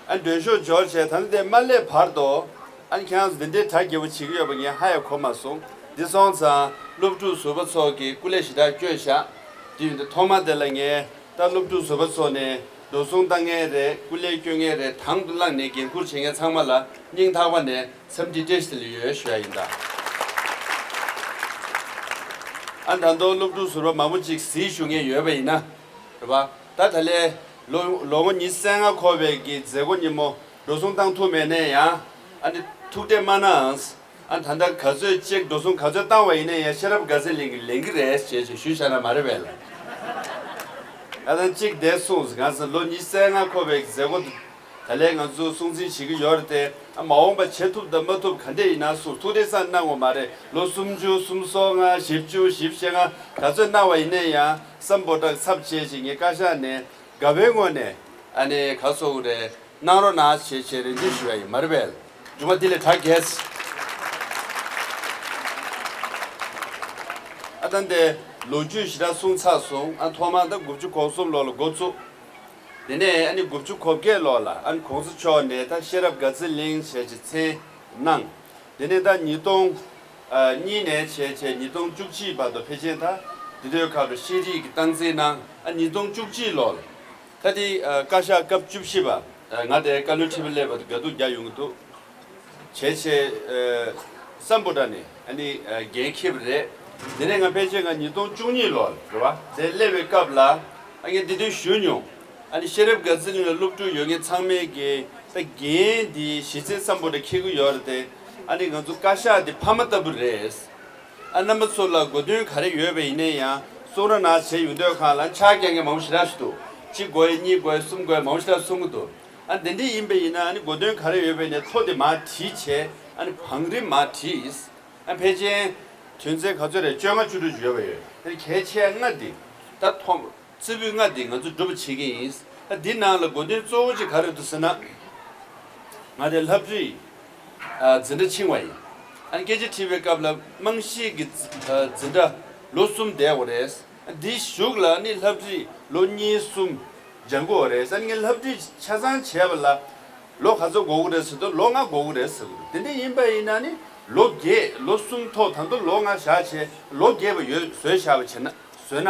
ཨ་མདོའི་ཤོག་སྦྱོར་བྱས་དང་དེ་མ་སླེབས་བར་དུ། ཨ་ཁྱངས་འདི་འདྲའི་གྲ་རྒྱས་པོ་བྱེད་ཀྱི་ཡོད་པ་ངས་ཧ་ཡ་གོ་མ་སོང། འདི་སོང་ཙང་སློབ་ཕྲུག་ཟུར་པ་ཚོགས་ཀྱིས་སྐུ་ལས་ཞེ་དྲག་བསྐྱོན་བཞག་རྒྱུ་ཡིན་འདུག་ཐོག་མ་དེ་ལ་ངས་ད་སློབ་ཕྲུག་ཟུར་པ་ཚོ་ནས་འགྲོ་སོང་བཏང་ངེས་རེད་སྐུ་ལས་བསྐྱོན་ངེས་རེད་དང་དུ་བླངས་ནས་འགན་ཁུར་བྱེད་མཁན་ཚང་མ་ལ་སྙིང་ཐག་པ་ནས་འཚམས་འདྲི་བཀྲིས་བདེ་ལེགས་ཡོད་ཞུ་ཡ་ཡིན་ད། ཨ་ད་མདོ་སློབ་ཕྲུག་ཟུར་པ་མང་པོ་ཅིག་གཟིགས་ཞུ་ངེས་ཡོད་པ་ཡིན་ན། རེད་པ། ད་ད་ལས་ལོ་ངོ་ཉི་ཟད་ལྔ་འཁོར་བའི་གི་མཛད་སྒོ་ཉིན་མོ་འགྲོ་སོང་བཏང་ཐུབ་མེད་ནས་ཡང་ཨ་ནི་ཐུགས་ཁྲལ་སྨྲ་ནའང། ཨ་ད་ལྟ་ག་ཚོད་གཅིག་འགྲོ་སོང་ག་ཚོད་བཏང་བ་ཡིན་ནའི་ཡང་ཤེས་རབ་དགའ་ཚལ་གླིང་གི་ལས་འགི་རེད་ཅེས་ཅེས་ཞུས་བྱ་ན་མ་རེད་བས་ལ། ཨ་ཐང་གཅིག་བསྡད་གསུངས་གང་ཟེར་ལོ་ཉི་ཟད་ལྔ་འཁོར་བའི་གི་མཛད་སྒོ་དེ་ད་ལས་ང་ཚོ་སྲུང་འཛིན་བྱེད་གི་ཡོད་རེད་དེ་ཨ་མ་འོངས་པ་བྱེད་ཐུབ་དང་མ་ཐུབ་ག་འདྲས་ཡིན་ན་སུ་ཐུགས་ཁྲལ་སང་གནང་ངོ་མ་རེད་ལོ་སུམ་ཅུ་གསུམ་སོ་ལྔ་བཞི་བཅུ་བཞི་བཞི་ལྔ་ག་ཚོད་གནང་བ་ཡིན་ནའི་ཡང། བསམ་བོ་སྐྲག་ཚབ་བྱེད་ཅིང་ངས་བཀའ་ཤག་ནས་དགའ་བའི་ངོ་ནས་ཨ་ནེ་ག་ཚོགས་རེ་གནང་རོགས་གནང་བྱེད་ཆེད་རེ་འདུན་ཞུ་ཡ་ཡིན་མ་རེད་བལ་རྒྱུ་མ་དེ་ལས་གྲགས་གེས་ཨ་ད་འདས་ལོ་རྒྱུས་ཞི་དྲག་སྲུང་ཚགས་སོང་ཨ་ཐོག་མར་ད་དགུ་བཅུ་གོ་གསུམ་ལོ་ལ་འགོ་བཙུགས་དེ་ནས་ཨ་ནི་དགུ་བཅུ་གོ་བརྒྱད་ལོ་ལ་ཨ་ནི་གོང་ས་མཆོག་ནས་ད་ཤེས་རབ་དགའ་ཚིག་གླིང་བྱེད་ཀྱི་མཚན་གནང་དེ་ནས་ད་ཉིས་སྟོང། གཉིས་ནས་བྱས་བྱས་ཉིས་སྟོང་བཅུ་གཅིག་བར་དུ་ཕལ་ཆེན་ད་དེ་དོའི་ཁག་ཏུ་ཤེས་རིག་གི་སྟངས་འཛིན་གནང། ཨ་ཉིས་སྟོང་བཅུ་གཅིག་ལོར། ད་དེ་བཀའ་ཤག་སྐབས་བཅུ་བཞི་པ། ང་དེ་བཀའ་བློན་ཁྲི་པ་སླེབས་པ་དུ་དགའ་སྡུག་རྒྱག་ཡོང་གི་འདུག། བྱས་བྱས། བསམ་པོ་དྲ་ནས་ཨ་ནི་འགན་འཁྱེར་བ་རེད། དེ་ནས་ང་ཕལ་ཆེར་ང་ཉིས་སྟོང་བཅུ་གཉིས་ལོར་རེད་བ། རྫས་སླེབས་བའི་སྐབས་ལ། ཨ་ངས་དེ་དོན་ཞུས་མྱོང། ཨ་ནི་ཤེས་རབ་དགའ་ཚལ་གླིང་ལ་སློབ་ཕྲུག་ཡོད་མཁན་ཚང་མས་དགེ་ས་རྒན་དེའི་གཞི་རྩའི་བསམ་བོ་འདྲ་འཁེལ་གི་ཡོད་རེད་དེ། ཨ་ནི་ང་ཚོ་བཀའ་ཤག་དེ་ཕ་མ་ལྟ་བུ་རེད། ཨ་རྣམ་པ་ཚོ་ལ་དགོས་དོན་ག་རེ་ཡོད་པ་ཡིན་ནའི་ཡང་གསུང་ར་ནག་བྱས་ཡོང་སྡོད་ཁང་ལ་འཕྱག་རྒྱག་མཁན་མང་པོ་ཞིག་རབ་ཞིག་འདུག་གཅིག་དགོས་ཡས་གཉིས་དགོས་ཡས་གསུམ་དགོས་ཡས་མང་པོ་ཞིག་རབ་གསུང་གི་འདུག་ཨ་ནི་དེ་འདྲས་ཡིན་པ་ཡིན་ན་ཨ་ནི་དགོས་དོན་ག་རེ་ཡོད་པའི་ནས་ཚོ་དེ་མ་བྲིས་བྱས་ཨ་ནི་བང་རིམ་མ་བྲིས་ཨ་ཕལ་ཆེན། དོན་ཚན་ག་ཚོད་རེད་བཅོ་ལྔ་བཅུ་དྲུག་ཅུ་ཡོད་པ་ཡོད་ཨ་ནི་གལ་ཆེ་ཡ་ལྔ་འདི་ད་ཐོག། རྩེ་ཕུད་ལྔ་འདི་ང་ཚོ་སྒྲུབ་པ་བྱེད་མཁན་ཡིན། འདི་ནང་ལ་དགོས་དོན་གཙོ་བོ་གཅིག་ག་རེད་འདུག་ཟེར་ན། ང་རེ་ལྷ་བྲིས། འཛིན་གྲྭ་ཕྱིང་བ་ཡིན། སྐད་ཆ་དྲིས་པའི་སྐབས་ལ་རྨང་གཞིའི་གི་འཛིན་གྲྭ་ལོ་གསུམ་བསྡད་འོ་རེད། འདི་བཞུགས་ལ་ནི་ལྷ་བྲིས་ལོ་གཉིས་གསུམ་སྦྱང་དགོས་འོ་རེད། ངས་ལྷ་བྲིས་ཆ་ཚང་བྱས་པ་ལ་ལོ་ག་ཚོད་འགོར་གི་རེད་ཟེར་དུས་ལོ་ལྔ་འགོར་གི་རེད་ཟེར་གི་འདུག་དེ་འདྲ་ཡིན་པ་ཡིན་ན་ནི་ལོ་བརྒྱད་ལོ་གསུམ་ཐོག་ད་དུང་ལོ་ལྔ་བཞག་བྱས་ལོ་བརྒྱད་པ་ཡོད་བཟོས་བཞག་པ་བྱས་ན། བཟོས་ན།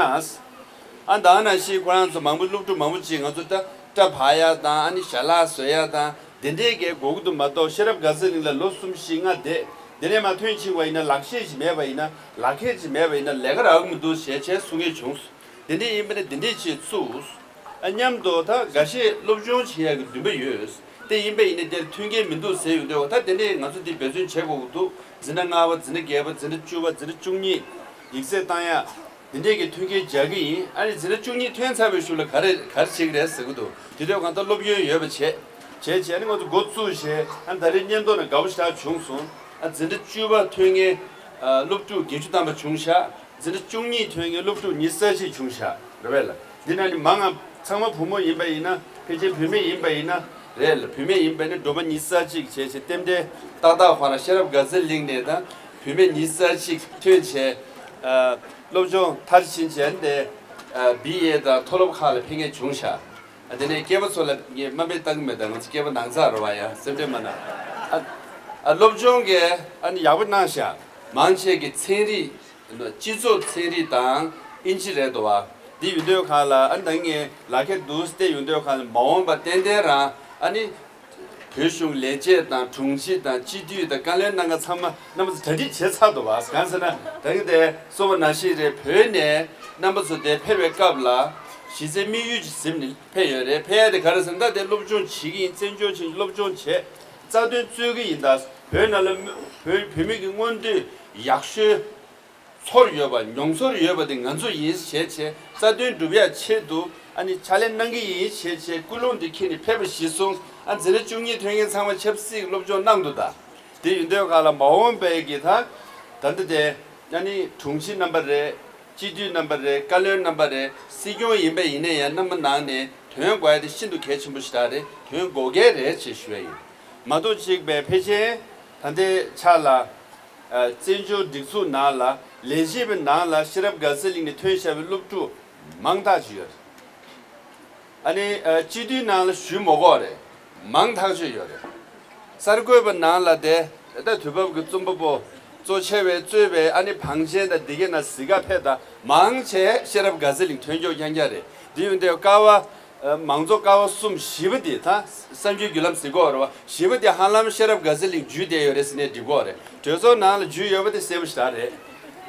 ཨ་འདང་ན་ཤིས་ཁོ་རང་ཚོ་མང་པོ་སློབ་ཕྲུག་མང་པོ་ཅིག་ང་ཚོ་ཏྲ་ཏྲ་བག་ཡ་དང་ཨ་ནི་ཞྭ་ལག་བཟོས་ཡ་དང་དེ་འདྲའི་གའི་གོ་གུ་དུ་མ་གཏོགས་ཤེས་རབ་དགའ་ཚལ་གླིང་ལ་ལོ་གསུམ་བཞི་ལྔ་བསྡད་དེ་ནས་མ་ཐོན་འཆིང་བ་ཡིན་ན་ལག་ཤེས་ཅིག་མེད་པ་ཡིན་ན་ལག་ཁྱེར་ཅིག་མེད་པ་ཡིན་ན་ལས་ཀ་རག་གི་མི་འདུག་ཞེས་བྱས་གསུང་མཁན་བྱུང་སོ། དེ་འདྲས་ཡིན་པ་ནི་དེ་འདྲས་བྱས་ཚུགས་ཨ་སྙམ་དུ་ད་ག་ཤེད་སློབ་སྦྱོང་བྱེད་ཡག་གི་འདུན་པ་ཡོད་དེ་ཡིན་པས་ཡིན་ནས་དེར་མཐུན་རྐྱེན་མི་འདུག་ཟེར་ཡོང་དོན་འོ་ད་དེ་འདྲས་ང་ཚོ་འདི་འབད་བརྩོན་བྱེད་དགོ་གི་འདུག་འཛིན་གྲྭ་ལྔ་བ་འཛིན་གྲྭ་བརྒྱད་པ་འཛིན་གྲྭ་བཅུ་བ་འཛིན་གྲྭ་བཅུ་གཉིས། ཡིག་རྩལ་བཏང་ཡག། འདི་འདྲས་ཀྱི་མཐུན་རྐྱེན་སྦྱར་གྱི་ཡིན་ཨ་རེད་ཟེར་ན་བཅུ་གཉིས་ཐོན་ཚར་བའི་ཤུགས་ལ་ག་རེ་གར་བྱེད་ཀྱི་རེད་ཟེར་གྱི་འདུག་དེ་དོན་གང་ལྟར་སློབ་ཡོན་ཡོད་པ་བྱེད། བྱེད་བྱེད་ཨ་ནི་ང་ཚོ་འགོ་བཙུགས་ཞེས་ཨ་ནི་ད་རེས་བསྙད་འདོགས་ནས་དགའ་བོ་ཤག་བྱུང་སོང་ཨ་འཛིན་གྲྭ་བཅུ་བ་ཐོན་ངེས་སློབ་ཕྲུག་བརྒྱད་ཅུ་བཏང་པ་བྱུང་ཤག་འཛིན་གྲྭ་བཅུ་གཉིས་ཐོན་ངེས་སློབ་ཕྲུག་ཉིས་བརྩ་གཅིག་བྱུང་ཤག་རེད་བས་ལ་འདི་ན་ནི་མ་ང་ཚང་མ་བུ་མོ་ཡིན་པ་ཡིན་ན་ཕལ་ཆེར་བུད་མེད་ཡིན་པ་ཡིན་ན་རེད་ལ་བུད་མེད་ཡིན་པས་ནི་འགྲོ་མ་ཉིས་བརྩ་གཅིག་བྱེད་བྱེད་རྟེན་འབྲེལ་ཏག་ཏག་བར་ན་ཤེས་རབ་དགའ་ཚལ་གླིང་ནས་དང། བུད་མེད་ཉིས་བརྩེགས་གཅིག་ཐོན་བྱས། སློབ་སྦྱོང་མཐར་ཕྱིན་བྱས་ཏེ། བི་ཡེ་དང་མཐོ་སློབ་ཁག་ལ་ཕེབས་མཁན་བྱུང། ཞག་དེ་ནས་སྐྱེས་པ་ཚོ་ལ་ངས་སྨ་འབེབས་བཏང་གི་མེད་ད་ང་ཚོ་སྐྱེས་པ་ནང་ཚགས་རོ་བ་ཡ་སེམས་ཁྲལ་མ་གནང། སློབ་སྦྱོང་གི་ཨ་ནི་ཡག་པོ་གནང་ཞག་མང་བྱས་ཀྱི་ཚན་རིག་སྤྱི་ཚོགས་ཚན་རིག་དང་ཨིན་ཇི་རལ་དོ་བ་འདི་ཡོད་འདོད་ཁག་ལ་ཨ་ནི་ད་ངས་ལག་ཁྱེར་འདུག་སྟེ་ཡོད་འདོད་ཁག་ལ་མ་འོངས་པ་ཏན་ཏན་རང་ཨ་ནི་བོད་གཞུང་ལས་བྱེད་དང་དྲུང་ཆེ་དང་སྤྱི་འཐུས་དང་བཀའ་བློན་གནང་མཁན་ཚང་མ་རྣམ་པ་ཚོ་གྲ་སྒྲིག་བྱས་ཚར་འདུག་བ་གང་ཟེར་ན་ད་གིན་དེ་སོ་བ་ན་ཞིག་རེད་བོད་ནས་རྣམ་པ་ཚོ་དེ་ཕེབས་པའི་སྐབས་ལ་གཞི་རྩའི་དམིགས་ཡུལ་གྱི་གཟིམ་ནས་ཕེབས་ཡོད་རེད་ཕེབས་ཡ་དེ་ག་རེ་ཟེར་ན་ད་དེ་སློབ་སྦྱོང་བྱེད་ཀྱི་ཡིན་བཙན་བྱོལ་ཕྱི་ནས་སློབ་སྦྱོང་བྱས་རྩ་དོན་རྩོད་ཀྱི་ཡིན་ད་བོད་ནང་ལ་བོད་མི་གི་མངོན་འདོད་ཡག་ཤོས། ཚོར་ཡོད་པ་མྱོང་ཚོར་ཡོད་པ་དེ་ང་ཚོ་ཡིན་བྱས་བྱས་རྩ་དོན་སྒྲུབ་ཡ་ཆེད་དུ་ཨ་ནི་ཕྱག་ལེན་གནང་གི་ཡིན་བྱས་བྱས་ཀུན་སློང་དེ་ཁྱེད་ནི་ཕེབས་པ་གཞི་བཟུང་ཨ་འཛིན་ལ་བཅུ་གཉིས་ཐོན་མཁན་ཚང་མ་ཆབ་སྲིད་སློབ་སྦྱོང་གནང་འདུག་ད་དེ་ཡུན་དོན་ག་ལ་མ་འོངས་པའི་གི་ད་ད་འདི་དེ་ཨ་ནི་དྲུང་ཆེ་རྣམ་པ་རེད་སྤྱི་འཐུས་རྣམ་པ་རེད་བཀའ་བློན་རྣམ་པ་རེད་སྲིད་སྐྱོང་ཡིན་པ་ཡིན་ནས་ཡང་རྣམ་པ་ནང་ནས་དོན་དགོ་ཡ་དེ་ཤིན་ཏུ་གལ་ཆེན་པོ་ཞིག་ད་རེད་དོན་དགོ་གལ་རེད་བྱས་ཞུ་ཡ་ཡིན་མ་གཏོགས་གཅིག་པའི་ཕེ་ཆེན་ད་འདི་ཕྱག་ལ་བཙན་བྱོལ་སྒྲིག་འཛུགས་ནང་ལ་ལས་བྱེད་པའི་ནང་ལ་ཤེས་རབ་དགའ་ཚལ་གླིང་ནས་ཐོན་ཤར་བའི་སློབ་ཕྲུག་མང་དག་ཅིག་ཡོད་རེད། ཨ་ནི་སྤྱི་འཐུས་ནང་ལ་ཞུས་མོ་གོ་རེད་མང་ཐག་ཆོད་ཡོད་རེད། གསར་འགོད་པ་ནང་ལ་དེ་ལྟ་དུས་བབ་ཀྱི་རྩོམ་པ་པོ་གཙོ་ཆེ་བས་གཙོས་པའི་ཨ་ནི་བང་ཆེན་དང་འདི་གའི་ན་ཟི་ག་ཕེ་དང་མང་ཆེ་ཤེས་རབ་དགའ་ཚལ་གླིང་ཐོན་འཁྱོག་རྐྱང་རྐྱང་རེད་འདི་ཡོང་སྡད་ཀ་བ་མང་གཙོ་ཀ་བ་གསུམ་བཞི་བ་དེ་དང་གསར་འགྱུར་བརྒྱུད་ལམ་གཟིགས་སྐོར་བ་བཞི་བ་དེ་ཧ་ལམ་ཤེས་རབ་དགའ་ཚལ་གླིང་བརྒྱུད་བསྡད་ཡོད་རེད་ཟེར་ནས་སྒྲིག་སྐོར་རེད་གྲོས་ཚོགས་ནང་ལ་བརྒྱུད་ཡོད་པ་དེ་གསལ་པོ་ཞིག་རེད་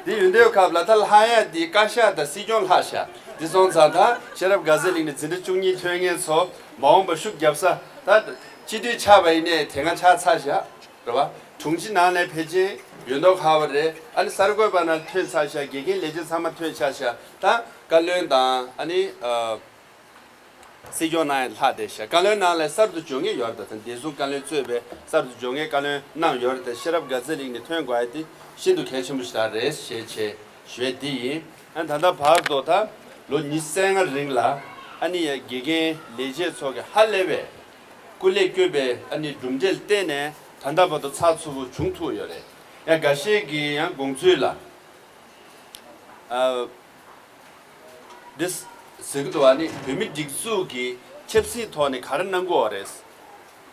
དེ་ཡོད་འདོད་ཁབ་ལ་ད་ལྷ་ཡག་འདི་བཀའ་ཤག་དང་སྲིད་སྐྱོང་ལྷག་ཤག་འདི་སོང་ཙང་ད་ཤེས་རབ་དགའ་ཚལ་གླིང་ནས་འཛིན་གྲྭ་བཅུ་གཉིས་ཐོན་ངན་ཚོ་མ་འོངས་པ་ཤུགས་རྒྱབ་ས་ད་སྤྱི་འཐུས་ཆགས་པ་ཡིན་ནས་དེ་སྔ་ཆགས་ཚར་ཤག་རེད་བ་དྲུང་ཕྱི་ནང་ལས་འཕེལ་ཅན་ཡོད་མདོག་ཁ་བ་རེད་ཨ་ནི་གསར་འགོད་པ་ན་ཐོན་ཚར་ཤག་དགེ་རྒན་ལས་བྱེད་ཚང་མ་ཐོན་ཆགས་ཤག་ད་བཀའ་བློན་དང་ཨ་ནི། སྲིད་སྐྱོང་གནང་ཡས་ལྷག་དེ་ཤ་བཀའ་བློན་གནང་སླད་གསར་དུ་འཇོག་ངེས་ཡོད་རེད་དམ་བདེ་སྲུང་བཀའ་བློན་གཙོས་པའི་གསར་དུ་འཇོག་ངེས་བཀའ་བློན་གནང་ཡོད་རེད་དེ་ཤེས་རབ་དགའ་ཚལ་རིག་ནས་ཐོན་དགོས་ཡས་དེ་ཤིན་ཏུ་གལ་ཆེན་པོ་ཞིག་དག་རེད་ཞེས་ཆེ་ཞོས་དེ་ཡིན་ད་ལྟ་བར་དུ་ད་ལོ་ཉི་གསལ་ལྔ་རིང་ལ་ཨ་ནི་ཡ་དགེ་རྒན་ལས་བྱེད་ཚོ་གི་ཧ་ལས་པའི་སྐུ་ལས་བསྐྱོད་པའི་ཨ་ནི་གྲུབ་འབྲས་བརྟེན་ནས་ད་ལྟ་བར་དུ་ཚགས་ཚུད་པོ་བྱུང་ཐུག་ཡོད་རེད་ཡ་འགའ་ཤས་ཀྱི་ཡང་དགོངས་ཚུལ་ལ། འདི་ཟེར་གི་འདུག་ཨ་ནི་བོད་མི་སྒྲིག་འཛུགས་ཀྱི་ཆབ་སྲིད་ཐོག་ནས་ག་རེ་གནང་དགོས་བ་རེད།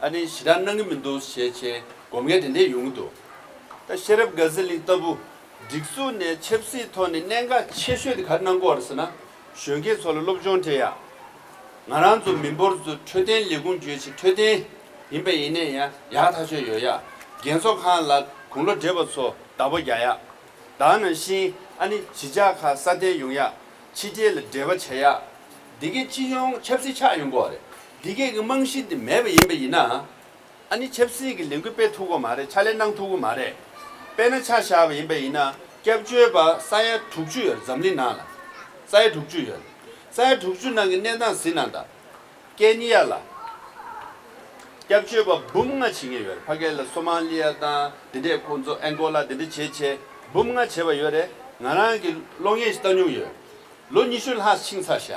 ཨ་ནི་ཞེ་དྲག་གནང་གི་མི་འདུག་ཞེས་ཆེ་སྒོམ་མཁན་དེ་འདྲས་ཡོང་གི་འདུག་ད་ཤེས་རབ་དགའ་ཟེར་གླིང་ལྟ་བུ་སྒྲིག་འཛུགས་ནས་ཆབ་སྲིད་ཐོག་ནས་གནད་འགག་ཆེ་ཤོས་དེ་ག་རེ་གནང་དགོས་བ་རེད་ཟེར་ན་གཞོན་སྐྱེས་ཚོ་ལ་སློབ་སྦྱོང་སྤྲད་ཡག་ང་རང་ཚོ་མི་འབོར་ཚོ་འཕྲོད་བསྟེན་ལས་ཁུངས་བརྗོད་བྱེད་འཕྲོད་བསྟེན་ཡིན་པ་ཡིན་ནས་ཡང་ཡག་ཐག་ཆོད་ཡོད་ཡག་རྒན་ཚོགས་ཁང་ལ་དགུང་ལོ་བགྲེས་པ་ཚོ་བདག་པོ་རྒྱག་ཡག་བདག་ནང་བཞིན་ཨ་ནི་བྱི་བྱ་ཁ་ས་བསྟན་ཡོང་ཡ། ཕྱི་རྒྱལ་ལ་འབྲེལ་བ་བྱ་ཡ། འདི་གའི་སྤྱི་ཡོངས་ཆབ་སྲིད་ཆགས་ཡོང་དགོས་བ་རེད། འདི་གའི་གི་རྨང་གཞི་འདི་མེད་པ་ཡིན་པ་ཡིན་ན། ཨ་ནི་ཆབ་སྲིད་གི་ལས་འགུལ་སྤེལ་ཐུབ་གོ་མ་རེད་ཕྱག་ལས་གནང་ཐུབ་གོ་མ་རེད། དཔེ་ན་ཆ་བཞག་པ་ཡིན་པ་ཡིན་ན་སྐྱབས་བཅོལ་བ་ས་ཡ་དྲུག་ཅུ་ཡོད་རེད་འཛམ་གླིང་ནང་ལ། ས་ཡ་དྲུག་ཅུ་ཡོད་རེད། ས་ཡ་དྲུག་ཅུ་ནང་གི་གནས་སྟངས་ཟིན་ན་ད། ཀེ་ནི་ཡ་ལ་སྐྱབས་བཅོལ་བ་འབུམ་ལྔ་བྱེད་མཁན་ཡོད་རེད་ཕ་གེ་ལ་སོ་མཱ་ལི་ཡ་དང་དེ་འདྲས་ཁོང་ཚོ་ཨན་གོ་ལ་དེ་འདྲས་བྱས་བྱས་འབུམ་ལྔ་བྱས་པ་ཡོད་རེད་ང་རང་གི་གློག་བརྙན་ཞིག་བལྟ་མྱོང་ཡོད་ལོ་ཉི་ཤུ་ལྷག་ཕྱིན་ཚར་ཤ་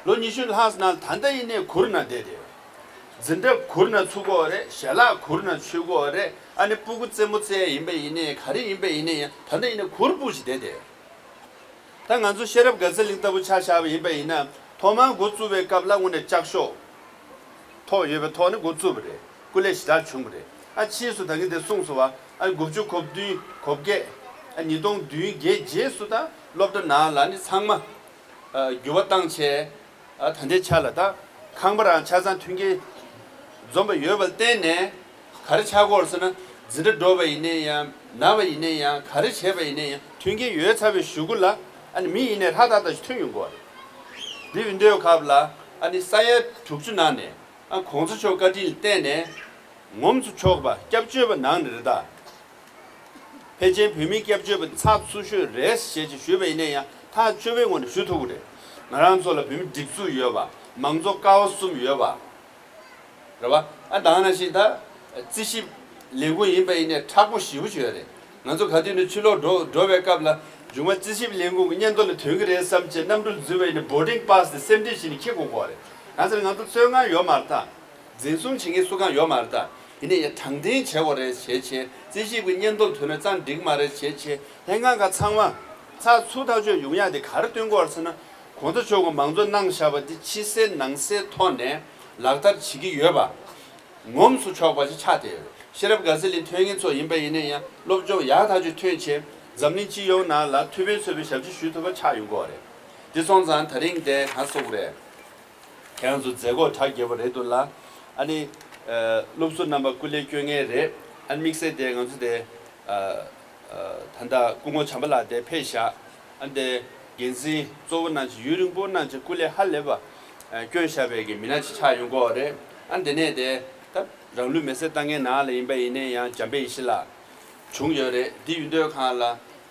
ལོ་ཉི་ཤུ་ལྷག་ནང་ད་ལྟ་ཡིན་ནས་གུར་ན་བསྡད་དེ་འཛིན་གྲྭ་གུར་ན་ཚུགས་དགོས་རེད་ཞལ་ལག་གུར་ན་ཆུད་དགོས་རེད་ཨ་ནི་སྤུ་གུ་རྩེ་མོ་རྩེ་ཡིན་པ་ཡིན་ནས་ག་རེ་ཡིན་པ་ཡིན་ནས་ཡང་ད་ལྟ་ཡིན་ནས་གུར་སྤུ་ཞིག་བསྡད་དེ། ད་ང་ཚོ་ཤེས་རབ་དགའ་ཚལ་གླིང་ལྟ་བུ་ཆ་བཞག་པ་ཡིན་པ་ཡིན་ན་ཐོག་མར་འགོ་བཙུགས་པའི་སྐབས་ལ་དངོས་ནས་ལྕགས་ཤོག་ཐོག་ཡོད་པའི་ཐོག་ནས་འགོ་བཙུགས་པ་རེད་སྐུ་ལས་ཞི་དྲག་བྱུང་བ་རེད་ཨ་ཕྱིས་སུ་ད་གིན་དེ་གསུངས་སོང་བ་ཨ་དགུ་བཅུ་གོ་བདུན་གོ་བརྒྱད་ཨ་ཉིས་སྟོང་བདུན་བརྒྱད་རྗེས་སུ་ད་སློབ་གྲྭ་ནང་ལ་ནི་ཚང་མ་འགྱུར་བ་བཏང་ཆེ། ད་ལྟའི་ཆ་ལ་དང་ཁང་པ་རང་ཆ་ཚང་མཐུན་རྐྱེན་འཛོམས་པ་ཡོད་པ་བརྟེན་ནས་ག་རེ་ཆག་སྒོར་སོང་ན་འཛིན་གྲྭ་འགྲོ་བ་ཡིན་ནའི་ཡང་ན་བ་ཡིན་ནའི་ཡང་ག་རེ་བྱས་པ་ཡིན་ནའི་ཡང་མཐུན་རྐྱེན་ཡོད་ཚ་བའི་ཞུ་གུ་ལ་ཨ་ནི་མི་ཡིན་ནའི་ལྷ་དག་དང་ཞིག་མཐུན་ཡོང་དགོས་བ་རེད། འདི་འོས་འདོད་སྐབས་ལ་ཨ་ནི་ས་ཡ་དྲུག་ཅུ་ནང་ནས་ཨ་ཁོང་ཚོ་ཆོག་བཀའ་དྲིན་ལ་བརྟེན་ནས་ངོམས་སུ་ཆོག་པ་སྐྱབས་བཅོལ་བ་ནང་ནས་རེད་ད། ཕལ་ཆེར་བོད་མི་སྐྱབས་བཅོལ་བ་ཚགས་གཙོ་ཤོས་རེད་ཞེས་ཀྱི་ཞུས་པ་ཡིན་ན་ཡང་ཐག་གཅོད་པའི་ངོར་ཞུ་ཐུབ་ཀྱི་རེད། ང་རང་ཚོ་ལ་བོད་མི་སྒྲིག་འཛུགས་ཡོད་པ། མང་གཙོ་ཀ་བ་གསུམ་ཡོད་པ། རེད་བ། ཨ་དང་ན་ཞིག་ད་རྩིས་ཞིབ་ལས་ཁུངས་ཡིན་པ་ཡིན་ནས་ཁྲག་པོ་བཞི་བོ་བྱོས་རེད། ང་ཚོ་ག་དུས་ནས་ཆུ་ལོག་འགྲོ་འགྲོ་བའི་སྐབས་ལ་རྒྱུག་མ་རྩིས་ཞིབ་ལས་ཁུངས་ཀྱི་སྙན་ཐོ་ལ་དོན་གྱི་རེད་བསམ་ཅེས་གནམ་གྲུ་འཛུལ་བ་ཡིན་ནས Boarding Pass དེ་སེམས་ཁྲལ་བྱས་ནས་ཁྱེར་དགོས་ཁོག་རེད། གང་ཟེར་ང་ཚོ་བཙོན་ཁང་ཡོད་མ་ཐག་འཛིན་གསུམ་བྱེད་མཁན་སུ་གང་ཡོད་མ་རེད་ད། དེ་ནས་ཡང་དྲང་བདེན་བྱས་གོ་རེད་བྱས་བྱས་རྩེ་གཞིས་ཀུན་གཉེན་སྟོབས་དོད་ན་རྩ་འགྲིག་མ་རེད་བྱས་བྱས་ལྷན་ཁང་ཁ་ཚང་མ། ཚགས་ཚུད་ཐག་གཅོད་ཡོང་ཡག་དེ་ག་རེ་བསྟུན་དགོས་ར་ཟེར་ན། གོང་ས་མཆོག་གི་མང་གཙོ་གནང་བཞག་པ་དེ་ཕྱི་གསལ་ནང་གསལ་ཐོག་ནས་ལག་བསྟར་བྱེད་ཀྱི་ཡོད་པ། ངོམས་སུ་ཆོག་པ་ཞིག་ཆགས་ཐལ་ཡོད། ཤེས་རབ་དགའ་ཚལ་ལིན་ཐོན་མཁན་ཚོ་ཡིན་པ་ཡིན་ན་ཡང་སློབ་སྦྱོང་ཡག་ཐག་གཅོད་ཐོན་བྱས་འཛམ་གླིང་སྤྱི་ཡོངས་ནང་ལ་ཐུ་བྷེན་ཚོས་པའི་ཞབས་ཕྱི་ཞུས་ཐུབ་པ་ཆགས་ཡོང་དགོས་རེད། དེ་སོང་ཙང་ད་རིང་དེ་ག་སོག་རེད། གྱང་ཚོ་མཛད་སྒོ་གྲ་རྒྱས་པོ་རེད་འདུག་ལ། ཨ་ནི། སློབ་གསོ་རྣམ་པ་སྐུ་ལས་སྐྱོན་ངན་རེད། ཨ་ནི་དམིགས་བསལ་དེ་ང་ཚོ་དེ། ད་ལྟ་སྐུ་ངོ་བྱམས་པ་ལགས་དེ་ཕེབས་བཞག་ཨ་ནི་དེ། འགན་འཛིན་གཙོ་བོ་གནང་ཆེད་ཡུན་རིང་པོ་གནང་ཆེད་སྐུ་ལས་ཧ་ལས་པ། སྐྱོན་བཞག་པའི་གི་མི་སྣ་ཅིག་ཆགས་ཡོང་དགོས་རེད་ཨ་ནི་དེ་ནས་དེ། ད་རང་ལུས་མེ་སྲེག་བཏང་མཁན་ནང་ལ་ཡིན་པ་ཡིན་ནས་ཡང་འཇམ་དཔལ་ཡེ་ཤེས་ལགས། བྱུང་ཡོད་རེད་འདི་ཡུལ་སྡོད་ཁང་ལ་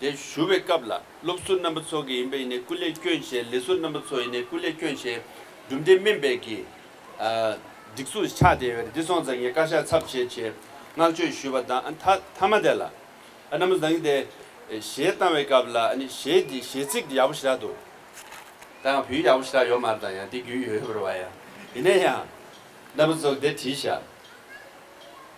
དེ་ཞུ་བའི་སྐབས་ལ་སློབ་ཟུར་རྣམ་པ་ཚོ་གི་ཡིན་པ་ཡིན་ནའི་སྐུ་ལས་སྐྱོན་ཞེས་ལས་ཟུར་རྣམ་པ་ཚོ་ཡིན་ནའི་སྐུ་ལས་སྐྱོན་ཞེས་གྲུབ་འབྲས་སྨིན་པའི་གི་སྒྲིག་ཚུགས་ཆགས་བསྡད་ཡོད་རེད་འདི་སོང་ཙང་ངས་བཀའ་ཤག་ཚབ་བྱས་ཆེད་བསྔགས་བརྗོད་ཞུས་པ་དང་མཐའ་མ་དེ་ལ་རྣམ་པ་ཟང་དེ་གཞས་བཏང་བའི་སྐབས་ལ་ནི་གཞས་འདི་གཞས་ཚིག་འདི་ཡག་པོ་ཞེ་དྲག་འདུག་དང་བོའི་ཡག་པོ་ཞེ་དྲག་ཡོད་མ་རེད་དང་ཡང་འདི་རྒྱུས་ཡོད་ཡོད་རེད་བ་ཡང་ཡིན་ནའི་ཡང་རྣམ་པ་ཚོ་དེ་བྲིས་ཤག།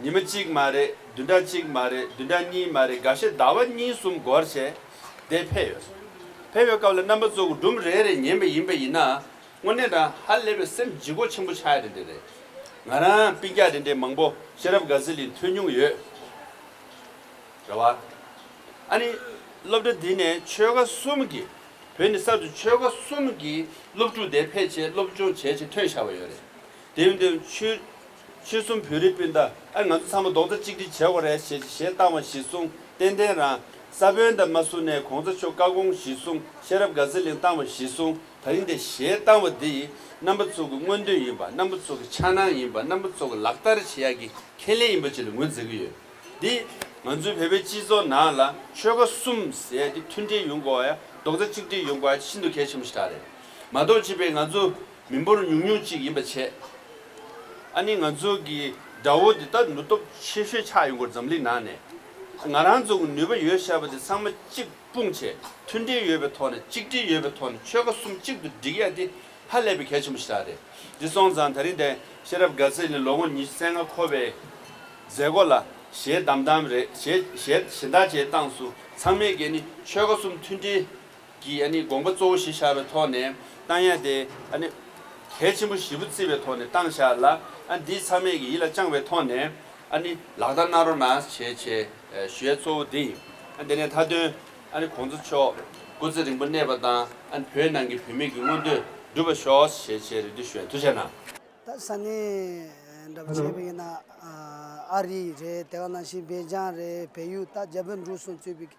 ཉི་མ་གཅིག་མ་རེད་བདུན་ཕྲག་གཅིག་མ་རེད་བདུན་ཕྲག་གཉིས་མ་རེད་འགའ་ཤས་ཟླ་བ་གཉིས་གསུམ་འགོར་བྱས་བསྡད་ཕེབས་ཡོད་སོང། ཕེབས་ཡོད་སྐབས་ལ་རྣམ་པ་གཙོ་བོ་སྒྲུམ་རེ་རེ་ཉན་པ་ཡིན་པ་ཡིན་ན་དངོས་གནས་དང་ཧ་ལས་པའི་སེམས་འཇིགས་སྒོ་ཆེན་པོ་ཆགས་ཡ་རེད་འདི་རེད། ང་རང་དཔིང་རྒྱག་རེ་འདྲེ་མང་པོ་ཤེས་རབ་དགའ་ཟིལ་ལིན་ཐོས་མྱུང་ཡོད་རེད་བ། ཨ་ནི་སློབ་གྲྭ་འདི་ནས་ཆོལ་ཁ་གསུམ་གྱི་བོད་ནི་གསར་དུ་ཆོལ་ཁ་གསུམ་གྱི་སློབ་ཕྲུག་དེ་ཕེབས་བྱས་སློབ་སྦྱོང་བྱས་བྱས་ཐོན་ཤར་བ་ཡོད་རེད། དེ་བས་ཆོས་ཆོལ་གསུམ་བོད་རིགས་སྤུན་ཟླ་ཨ་ང་ཚོ་ཚང་མ་རྡོག་རྩ་གཅིག་སྒྲིལ་བྱས་གོ་རེ་ཞེས་ཞེ་ཞེས་བཏང་བ་གཞི་བཟུང་ཏན་ཏན་རང་ས་བོན་དང་མ་སུ་ནའི་གོང་ས་མཆོག་བཀའ་དགོངས་གཞི་བཟུང་ཤེས་རབ་དགའ་ཚལ་གླིང་བཏང་བ་གཞི་བཟུང་ད་རིང་དེ་ཞེས་བཏང་བ་འདི་ཡིས་རྣམ་པ་ཚོ་གི་མངོན་འདོད་ཡིན་པ་རྣམ་པ་ཚོ་གི་འཆར་སྣང་ཡིན་པ་རྣམ་པ་ཚོ་གི་ལག་བསྟར་བྱེད་ཡག་གི་ཁས་ལེན་ཡིན་པ་བཅས་ལ་ངོས་འཛིན་གི་ཡོད་དེ། ང་ཚོའི་བོད་པའི་སྤྱི་ཚོགས་ནང་ལ་ཆོལ་ཁ་གསུམ་ཟེར་ཏེ་མཐུན་སྒྲིལ་ཡོང་དགོས་ཡ་རྡོག་རྩ་གཅིག་སྒྲིལ་ཡོང་དགོས་ཡ་ཤིན་ཏུ་གལ་ཆེན་པོ་ཞིག་རག་རེད་མ་གཏོགས་སྤྱི་པའི་ང་ཚོ་མི་འབོར་ཉུང་ཉུང་ཅིག་ཡིན་པ་བྱས་ཨ་ནི་ང་ཚོ་གི་དགྲ་བོ་དེ་དག་ནུ་སྟོབས་ཆེ་ཤོས་ཆགས་ཡོད་འགོར་འཛམ་གླིང་ནང་ནས་ང་རང་ཚོ་གི་ནུས་པ་ཡོད་ཤ་པ་དེ་ཚང་མ་གཅིག་དཔུང་བྱས་མཐུན་སྒྲིལ་ཡོད་པའི་ཐོག་ནས་གཅིག་སྒྲིལ་ཡོད་པའི་ཐོག་ནས་ཆོལ་ཁ་གསུམ་གཅིག་ཏུ་སྒྲིག་ཡ་དེ་ཧ་ལས་པའི་གལ་ཆེན་པོ་ཞིག་ད་རེད་དེ་སོང་ཙང་ད་རིང་དེང་ཤེས་རབ་དགའ་ཚལ་ནས་ལོ་ངོ་ཉི་ཚེ་ལྔ་འཁོར་བའི་མཛད་སྒོ་ལ་ཞལ་གདམས་གདམས་རེ་ཞལ་གཞལ་གཞན་དག་བྱས་སྟངས་སུ་ཚང་མའི་འགན་ནི་ཆོལ་ཁ་གསུམ་མཐུན་སྒྲིལ། གྱིས་དགོངས་པ་གཙོ་བོ་བཞི་བཞག་པའི་ཐོག་ནས་གཏང་ཡས་ཏེ། གལ་ཆེན་པོ་བཞི་པོ་བརྩི་བའི་ཐོག་ནས་གཏང་བཞག་ལ། འདི་ཚང་མས་ཀྱི་ཡིད་ལ་བཅངས་པའི་ཐོག་ནས། ལག་བསྟར་གནང་རོགས་གནང་བྱེད་ཆེད་ཞུ་ཡས་གཙོ་བོ་འདི་ཡིན། དེ་ནས་མཐའ་དོན། གོང་ས་མཆོག་སྐུ་ཚེ་རིང་པོ་གནས་པ་དང་བོད་ནང་གི་བུད་མེད་ཀྱི་མངོན་འདོད་འགྲུབ་པ་ཤོག་ཞེས་ཆེད་རེ་འདུན་ཞུ་ཡས་ཐུགས་ཆེ་གནང། ད་ས་གནས་འདྲ་བ་ཆེན་པོ་ཡིན་ན་ཨ་རི་རེད་དེ་བ་ན་ཤིང་བལ་འཇང་རེད་བལ་ཡུལ་ད་རྒྱ་བོད་འགྲོ་སོང་བཙུད་པའི